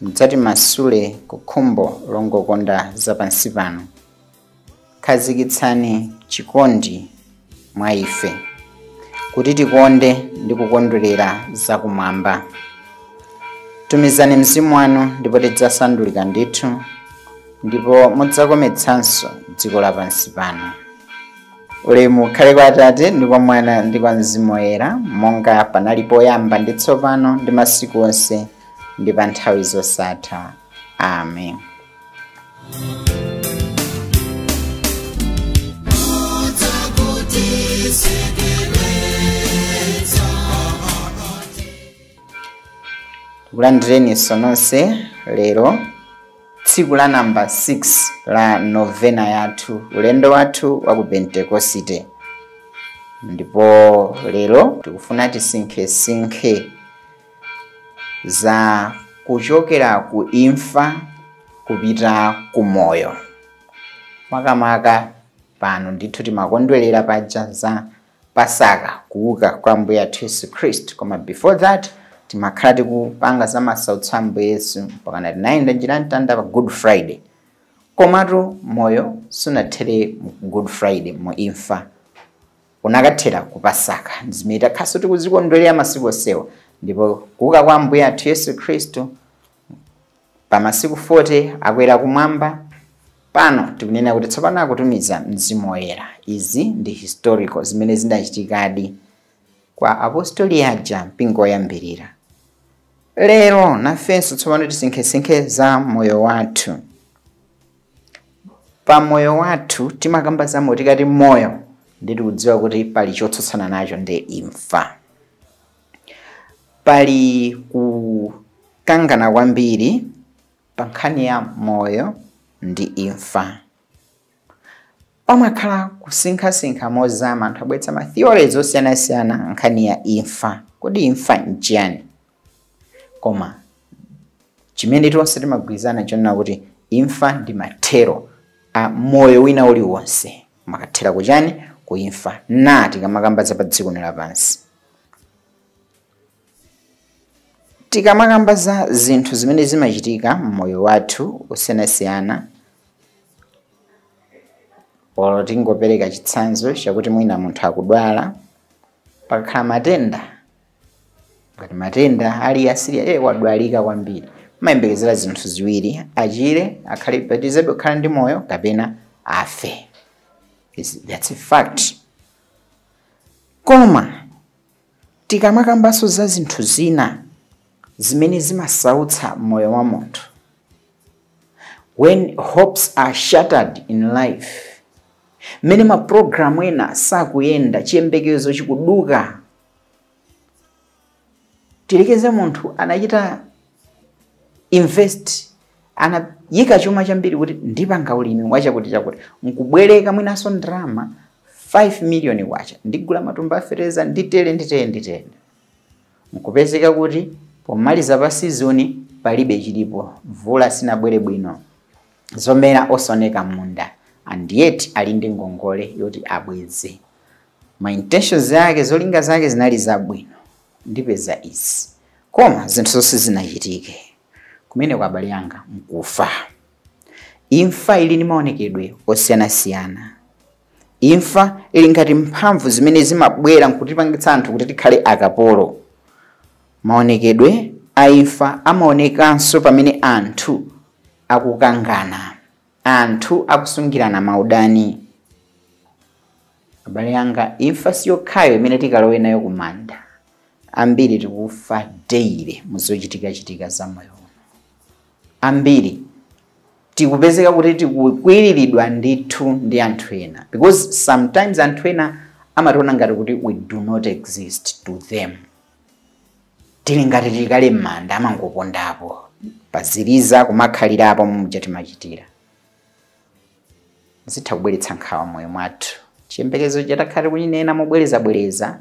Mudzatimasule ku khumbo longokonda zapansipano. Khazikitsani chikondi mwa ife, kuti tikonde ndi kukondwerera zakumwamba. Tumizani Mzimu wanu ndipo tidzasandulika ndithu, ndipo mudzakometsanso dziko lapansi pano. Ulemu ukhale kwa Atate ndi kwa Mwana ndi kwa Mzimu Woyera, monga panali poyamba ndi tsopano ndi masiku onse ndi pa nthawi zosatha amen tikulandireninso nonse lero tsiku la namba 6 la novena yathu ulendo wathu wa ku pentekosite ndipo lero tikufuna tisinkhesinkhe za kuchokera ku imfa kupita ku moyo makamaka pano ndithu timakondwerera paja za pasaka kuuka kwa ambuye athu yesu khristu koma before that timakhala tikupanga za masautso a ambuye yesu mpakana tinayenda njira ya mtanda pa good friday komatu moyo sunathere mu good friday mu imfa unakathera ku Pasaka. Ndi zimene takhalanso tikuzikondwerera masiku onsewa. Ndipo kuuka kwa Ambuye athu Yesu Khristu pa masiku 40 akwera kumwamba pano tikunena kuti tsopano akutumiza mzimu woyera izi ndi historical zimene zinachitikadi kwa apostoli aja mpingo woyambirira lero nafenso tsopano tisinkhesinkhe za moyo wathu pa moyo wathu timakamba za moyo tikati moyo ndiye tikudziwa kuti pali chotsutsana nacho ndi imfa pali kukangana kwambiri pa nkhani ya moyo ndi imfa pamakhala kusinkhasinkha mozama anthu abweretsa ma theories osiyanasiyana nkhani ya imfa kodi imfa nchiyani koma chimene tonse timagwirizana chonena kuti imfa ndi mathero a moyo wina uliwonse makathera kuchani ku imfa na tikamakamba za pa dziko lapansi tikamakamba za zinthu zimene zimachitika mmoyo wathu osiyanasiyana olo tingopereka chitsanzo chakuti mwina munthu akudwala pakakhala matenda ngati matenda ali a serious wadwalika kwambiri umayembekezera zinthu ziwiri achire akhale apitirizebe kukhala ndi moyo kapena afe that's a fact koma tikamakambanso za zinthu zina zimene zimasautsa moyo wa munthu when hopes are shattered in life mmene mapulogalamu ena sakuyenda chiyembekezo chikuduka tiyerekeze munthu anachita invest anayika chuma chambiri kuti ndipanga ulimi wachakuti chakuti nkubwereka mwinanso ndalama 5 miliyoni kwacha ndigula matumba a fetereza nditere nditere nditere nkupezeka kuti pomaliza pa sizoni palibe chilipo mvula sinabwere bwino zomera osaoneka m'munda and yet ali ndi ngongole yoti abweze ma intentions ake, zolinga zake zinali zabwino, ndipeza izi koma zinthuzo sizinachitike. Kumeneko abale anga nkufa. Imfa ili ndi maonekedwe osiyanasiyana. Imfa ili ngati mphamvu zimene zimabwera nkutipangitsa anthu kuti tikhale akapolo. Maonekedwe a imfa amaonekanso pamene anthu akukangana. Anthu akusungirana maudani. Abale anga, imfa si yokhayo imene tikalowe nayo ku manda. Ambiri tikufa daily mu zochitikachitika za moyo uno. Ambiri tikupezeka kuti tikukwiriridwa ndithu ndi anthu ena because sometimes anthu ena amationa ngati kuti we do not exist to them. tili ngati tili kale m'manda amangopondapo paziliza kumakhalirapo muja timachitira zitha kubweretsa nkhawa moyo mwathu chiyembekezo cha takhala tikuchinena mobwerezabwereza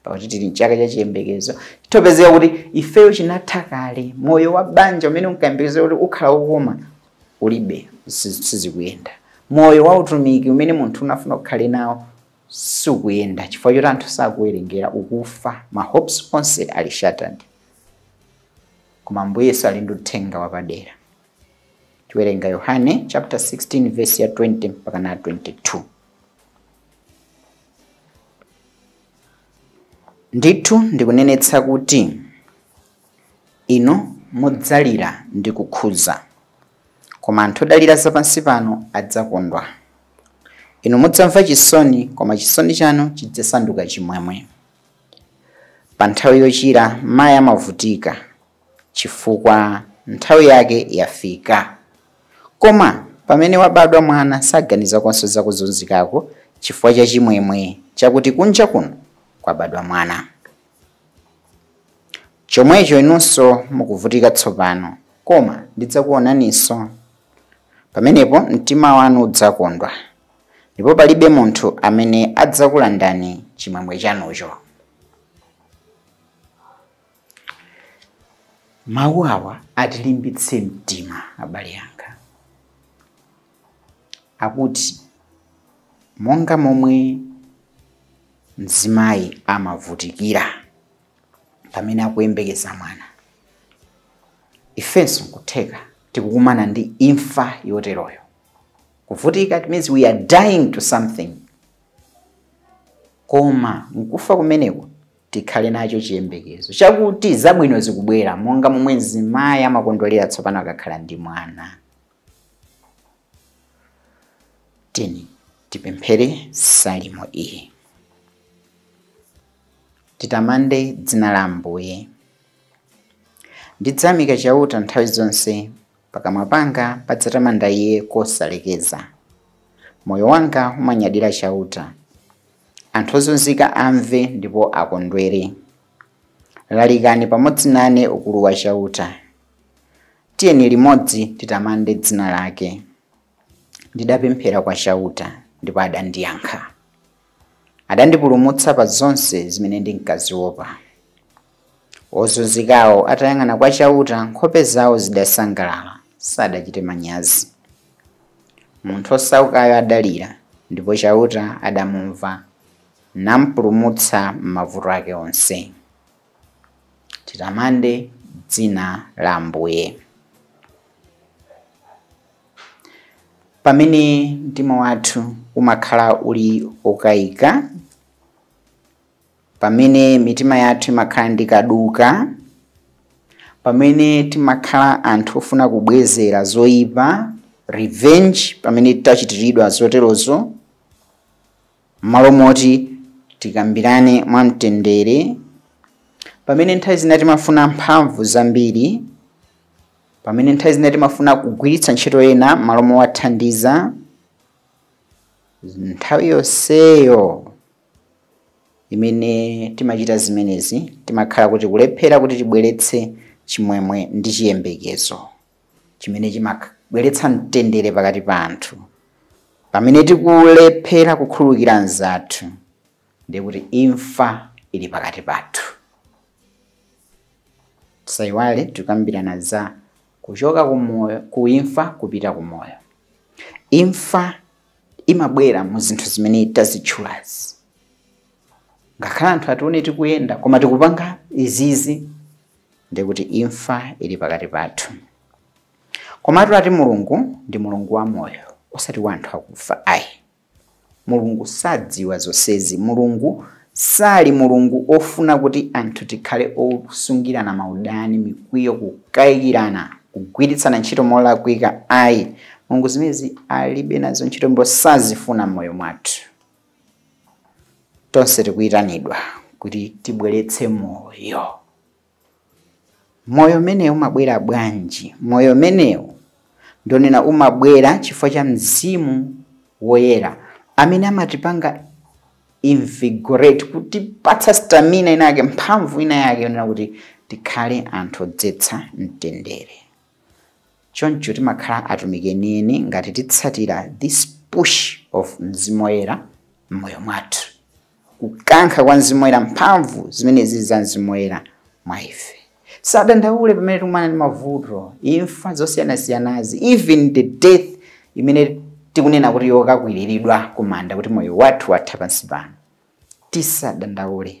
pakuti tili mchaka cha chiyembekezo chithopezeka kuti ifeyo chinatha kale moyo wa banja umene unkayembekezera kuti ukhala wokoma ulibe sizikuyenda moyo wa utumiki umene munthu unafuna kuti ukhale nawo sukuyenda chifukwa choti anthu sakuwerengera ukufa ma hopes onse ali shattered koma ambuye yesu ali ndi uthenga wapadera tiwerenga yohane chapter 16 verse ya 20 mpaka na 22 ndithu ndikunenetsa kuti inu mudzalira ndi kukhuza Koma anthu odalira zapansipano adzakondwa. Inu mudzamva chisoni, koma chisoni chanu chidzasanduka chimwemwe. Pa nthawi yochira mayi amavutika, chifukwa nthawi yake yafika. Koma pamene wabadwa mwana saganiza konse za kuzunzikako chifukwa cha chimwemwe chakuti kunja kuno kwabadwa mwana. Chomwecho inunso mukuvutika tsopano, koma ndidzakuonaninso. Pamenepo mtima wanu udzakondwa, ndipo palibe munthu amene adzakulandani chimwemwe chanucho. Mawu awa atilimbitse mtima abale anga, akuti monga momwe mzimayi amavutikira. pamene akuyembekeza mwana. Ifenso nkutheka tikukumana ndi imfa yoteroyo. Kuvutika it means we are dying to something. Koma nkufa kumeneko tikhale nacho chiyembekezo chakuti zabwino zikubwera monga momwe mzimayi amakondwerera tsopano akakhala ndi mwana. Tiyeni tipemphere salimo iyi. Titamande dzina la Ambuye. Ndidzayamika Chauta nthawi zonse, pakamwa panga padzatamanda Iye kosalekeza. Moyo wanga umanyadira Chauta. Anthu ozunzika amve ndipo akondwere. Lalikani pamodzi nane ukulu wa Chauta. Tiyeni limodzi titamande dzina lake. Ndidapemphera kwa Chauta, ndipo adandiyankha. Adandipulumutsa pa zonse zimene ndinkaziopa. Ozunzikawo atayang'ana kwa Chauta, nkhope zawo zidasangalala, sadachite manyazi. Munthu wosaukayo adalira, ndipo Chauta adamumva, nampulumutsa m'mavuto ake onse. titamande dzina la Ambuye. Pamene mtima wathu umakhala uli wokayika, pamene mitima yathu imakhala ndi kaduka, pamene timakhala anthu ofuna kubwezera zoyipa, revenge, pamene tachitiridwa zoterozo, M'malo moti tikambirane mwamtendere, pamene nthawi zina timafuna mphamvu zambiri, pamene nthawi zina timafuna kugwiritsa ntchito ena m'malo mowathandiza, nthawi yonseyo imene timachita zimenezi timakhala tikulephera kuti tibweretse chimwemwe ndi chiyembekezo. chimene chimabweretsa mtendere pakati pa anthu pamene tikulephera kukhululukira anzathu ndiye kuti imfa ili pakati pathu tisayiwale tikambirana za kuchoka kumoyo ku imfa kupita ku moyo imfa imabwera mu zinthu zimene tazitchulazi ngakhale anthu atione tikuyenda koma tikupanga izizi ndi kuti imfa ili pakati pathu komatu ati mulungu ndi mulungu wa moyo osati wa anthu akufa ayi mulungu sadziwa zonsezi mulungu sali mulungu ofuna kuti anthu tikhale osungirana maudani mikwiyo kukayikirana kugwiritsana ntchito molakwika ayi mulungu zimezi alibe nazo ntchito ndipo sazifuna m'moyo mwathu tonse tikuyitanidwa kuti tibweretse moyo moyo umenewu umabwera bwanji moyo umenewu ndionena umabwera chifukwa cha mzimu woyera amene amatipanga invigorate kutipatsa stamina inayake mphamvu inayake yonena kuti tikhale anthu odzetsa mtendere Choncho timakhala atumiki enieni ngati titsatira this push of Mzimu Woyera mmoyo mwathu, kukankha kwa Mzimu Woyera, mphamvu zimene zili za Mzimu Woyera mwa ife. Tisadandaule pamene tikumana ndi mavuto, imfa zosiyanasiyanazi, even the death imene tikunena kuti yokakwiriridwa ku manda kuti moyo wathu watha pansi pano. Tisadandaule.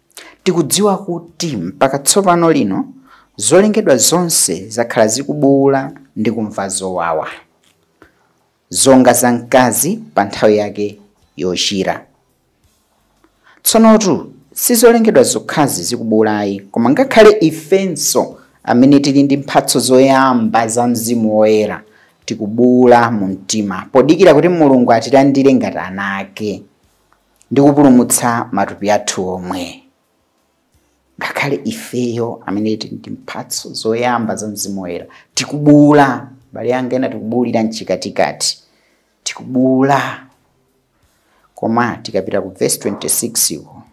Tikudziwa kuti mpaka tsopano lino, zolengedwa zonse zakhala zikubuula ndi kumva zowawa, zonga za mkazi pa nthawi yake yochira. Tsonotu, si zolengedwa zokhazi zikubuula ayi, koma ngakhale ifenso amene tili ndi mphatso zoyamba za Mzimu Woyera tikubuula mu mtima, podikira kuti Mulungu atilandire ngati ana ake. ndi kupulumutsa matupi athu omwe. Ngakhale ifeyo amene tili ndi mphatso zoyamba za Mzimu Woyera tikubuula, abale anga ena tikubuulira mchikatikati, tikubuula. Koma tikapita ku vesi 26 uko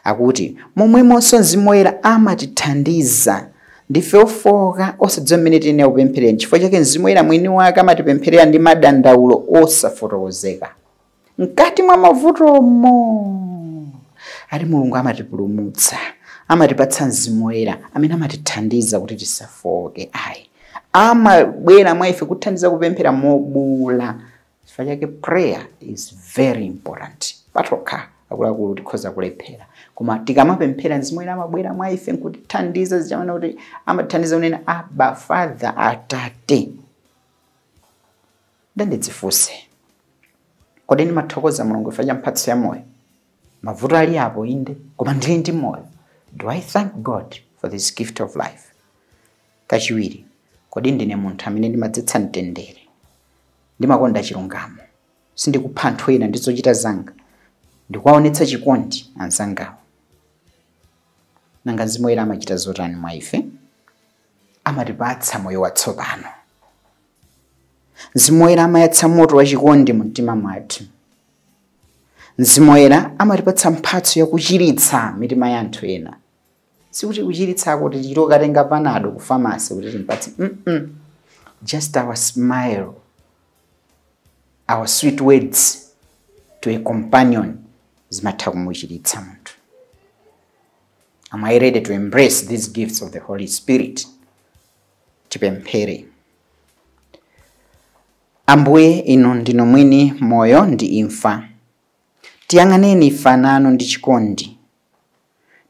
Akuti, Momwemonso Mzimu Woyera amatithandiza. Ndife ofooka, osadziwa mmene tiyenera kupempherera. Nchifukwa chake Mzimu Woyera mwini wake amatipempherera ndi madandaulo osafotokozeka. Mkati mwa mavutomo, ati Mulungu amatipulumutsa, amatipatsa Mzimu Woyera amene amatithandiza kuti tisafooke. Ayi, amabwera mwa ife kutithandiza kupemphera mobuula Chifukwa chake prayer is very important. Patokha akuluakulu tikhoza kulephera, koma tikamapemphera mzimu woyera amabwera mwa ife nkutithandiza zichamwana kuti amatithandiza kunena Abba Father Atate. Ndandidzifunse, kodi ndimathokoza mulungu chifukwa cha mphatso ya moyo? Mavuto ali apo inde, koma ndili ndi moyo. Do I thank God for this gift of life? Kachiwiri, kodi ndine munthu amene ndimadzetsa mtendere? Ndimakonda chilungamo. Sindikupha anthu ena ndi zochita zanga. Ndikuwaonetsa chikondi anzangawo. Nanga Mzimu Woyera amachita zotani mwa ife? Amatipatsa moyo watsopano. Mzimu Woyera amayatsa moto wa chikondi mu mtima mwathu. Mzimu Woyera amatipatsa mphatso yakuchiritsa mitima ya anthu ena. sikuti kuchiritsako kuti tichite kukatenga panado ku famasi kuti timpatse mm just our smile our sweet words to a companion zimatha kumuchiritsa munthu am i ready to embrace these gifts of the holy spirit tipemphere ambuye inu ndinu mwini moyo ndi imfa tiyang'aneni ife ana anu ndi chikondi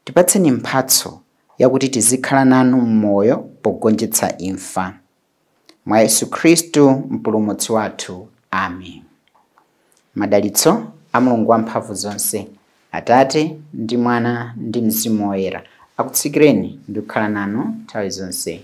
Tipatseni mphatso yakuti tizikhala nanu m'moyo pogonjetsa imfa. Mwa Yesu Khristu Mpulumutsi wathu. Amen. Madalitso a Mulungu Wamphamvu zonse, Atate, ndi Mwana, ndi Mzimu Woyera, akutsikireni ndi kukhala nanu nthawi zonse.